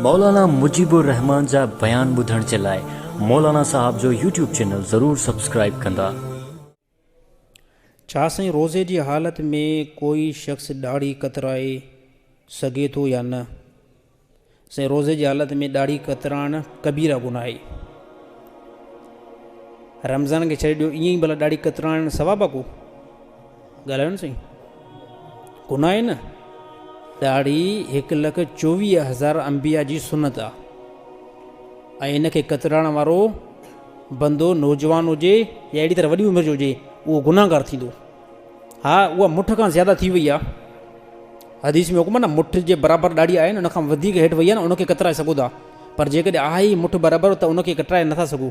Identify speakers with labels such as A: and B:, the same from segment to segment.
A: مولانا مجيب الرحمان جا بيان ٻڌڻ جي لاء مولانا صاحب جو يوٽيوب چينل ضرور سبسڪرائيب ڪندا.
B: ڇا سائين روزي جي حالت ۾ ڪوئي شخص ڏاڙهي ڪترائي سگهي ٿو يا نه؟ سائين روزي جي حالت ۾ ڏاڙهي ڪترائڻ ڪبيره گناهه آهي. رمضان کي ڇڏي ڏيو ائين ئي ڀلا ڏاڙهي ڪترائڻ ثواب آ ڪو؟ ڳالهايو نه سائين ڪو نه آهي نه ڏاڙهي هڪ لک چوويهه هزار انبيا جي سنت آ ۽ ان کي ڪترائڻ وارو بندو نوجوان هجي يا اهڙي طرح وڏي عمر جو هجي اهو گناهگار ٿيندو ها اها مٺ کان زياده ٿي وئي آ حديث ۾ حڪم آ نه مٺ جي برابر ڏاڙهي آهي نه ان کان وڌيڪ هيٺ وئي آ نه ان کي ڪترائي سگهو ٿا پر جيڪڏهن آهي مٺ برابر ته ان کي ڪترائي نٿا سگهو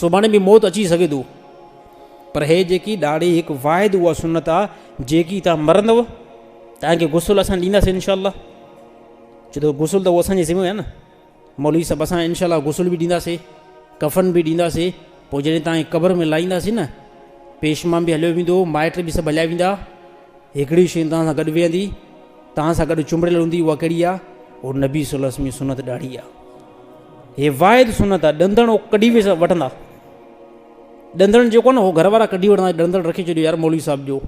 B: سڀاڻي به موت اچي سگهي ٿو، پر هي جيڪي ڏاڙهي هڪ واحد اها سنت آ جيڪي تان مرندو تان کي غسل اسان ڏينداسين انشاء الله چي ٿو غسل ته اسان جي ذمه آهي نه مولوي صاحب اسان انشاء الله غسل به ڏينداسين ڪفن به ڏينداسين پوء جڏهن تان قبر ۾ لائينداسين نه پيشمان به هليو ويندو مائٽ به سڀ هليا ويندا هڪڙي شين توهان سان گڏ ويهندي، توهان سان گڏ چنبڙيل هوندي، اها ڪهڙي آ؟ اهو نبي صلي الله عليه وسلم جي سنت ڏاڙهي آ. هي واحد سنت آ، ڏندڻ اهو ڪڍي وٺندا. ڏندڻ جيڪو آ نه اهو گهر وارا ڪڍي وٺندا، ڏندڻ رکي ڇڏيو يار مولوي صاحب جو.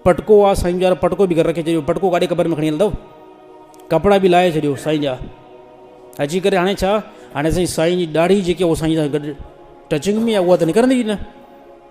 B: پٽڪو آ سائين يار پٽڪو به گهر رکي ڇڏيو، پٽڪو ڪاڏي قبر ۾ کڻي هلندؤ؟ ڪپڙا به لاهي ڇڏيو سائين جا. اچي ڪري هاڻي ڇا؟ هاڻي سائين سائين جي ڏاڙهي جيڪي اهو سائين سان گڏ ٽچنگ ۾ آ اها ته نڪرندي ئي نه.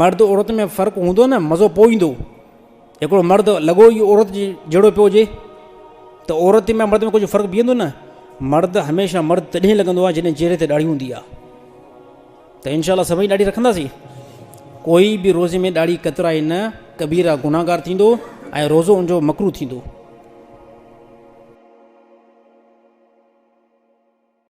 B: مرد عورت ۾ فرق هوندو نه مزو پوء ايندو هڪڙو مرد لڳو ئي عورت جي جهڙو پيو هجي ته عورت ۾ مرد ۾ ڪجهه فرق بيهندو نه مرد هميشه مرد تڏهن لڳندو آهي جڏهن چهري تي ڏاڙهي هوندي آهي ته انشاء الله سڀئي ڏاڙهي رکنداسين ڪوئي به روزي ۾ ڏاڙهي ڪترائي نه ڪبيرا گناهگار ٿيندو ۽ روزو ان جو مڪرو ٿيندو